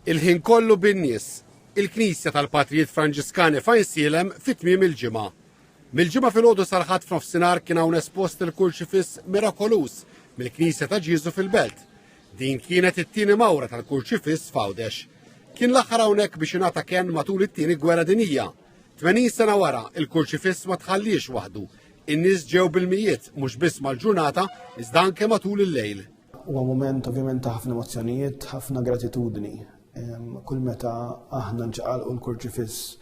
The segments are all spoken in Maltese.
Il-ħin kollu bin-nies. Il-Knisja tal-Patrijiet Franġiskani f'Għajnsielem fi tmiem il-ġimgħa. Mill-Ġimgħa filgħodu sal-Ħadd f'nofsinhar kien hawn espost il-Kurċifiss mirakoluż mill-Knisja ta' Ġieżu fil-Belt. Din kienet it-tieni mawra tal-Kurċifiss f'Għawdex. Kien l-aħħar hawnhekk biex ingħata kenn matul it-Tieni Gwerra Dinjija. 80 sena wara, il-Kurċifiss ma tħalliex waħdu. In-nies ġew bil-mijiet mhux biss mal-ġurnata iżda anke matul il-lejl. Huwa mument ovvjament ta' ħafna emozzjonijiet, ħafna gratitudni. Kull meta aħna nċaqalqu l-kurċifiss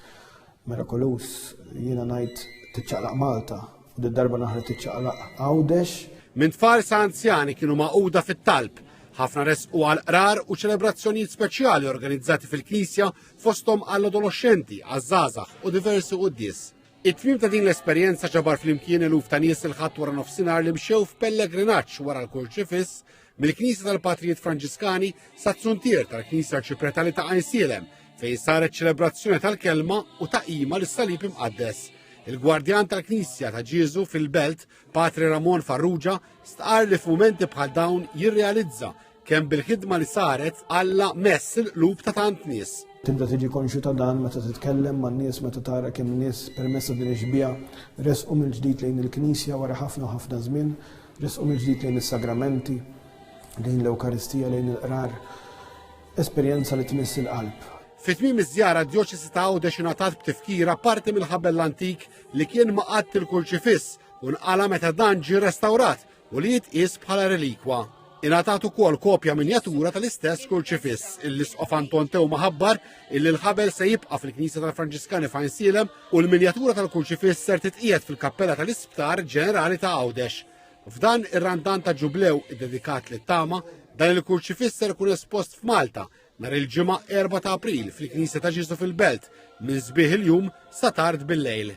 mirakulus, jiena ngħid tiċċaqlaq Malta, u d-darba naħra tiċċaqlaq Għawdex. Minn tfal sa' anzjani kienu maquda fit-talb ħafna resqu għal qrar u ċelebrazzjonijiet speċjali organizzati fil-Knisja fosthom għall-adoloxxenti, għaż-żgħażagħ u diversi quddies. It-tmiem ta' din l-esperjenza ġabar flimkien eluf ta' nies il-Ħadd wara nofsinhar li mxew f'pellegrinaġġ wara l-kurċifiss mill-Knisja tal-Patrijiet Franġiskani sa zuntier tal-Knisja Arċipretali ta' Għajnsielem fejn saret ċelebrazzjoni tal-kelma u ta' qima lis-salib imqaddes. Il-gwardjan tal-Knisja ta' Ġieżu fil-Belt, Patri Ramon Farrugia, stqar li f'mumenti bħal dawn jirrealizza Kemm bil-ħidma li saret Alla mess il-qlub ta' tant nies. Tibda tiġi konxju ta' dan meta titkellem man-nies meta tara kemm nies permezz ta' din ix-xbieha resqu mill-ġdid lejn il-Knisja wara ħafna u ħafna żmien, resqu mill-ġdid lejn is-sagramenti, lejn l-Ewkaristija, lejn il-Qrar. Esperjenza li tmiss il-qalb. Fi tmiem iż-żjara d-Djoċesi ta' Għawdex ingħatat b'tifkira parti mill-ħabel antik li kien maqadd il-Kurċifiss u nqala' meta dan ġie restawrat u li jitqies bħala relikwa. Ingħatat ukoll kopja minjatura tal-istess Kurċifiss. Il-Isqof Anton Teuma ħabbar illi l-ħabel se jibqa' fil-Knisja tal-Franġiskani f'Għajnsielem u l-minjatura tal-Kurċifiss ser titqiegħed fil-Kappella tal-Isptar Ġenerali ta' Għawdex. F'dan ir-Randan ta' Ġublew iddedikat lit-tama, dan il-Kurċifiss ser ikun espost f'Malta nhar il-ġimgħa 4 ta' April fil-Knisja ta' Ġesu fil-Belt minn sbieħ il-jum sa tard bil-lejl.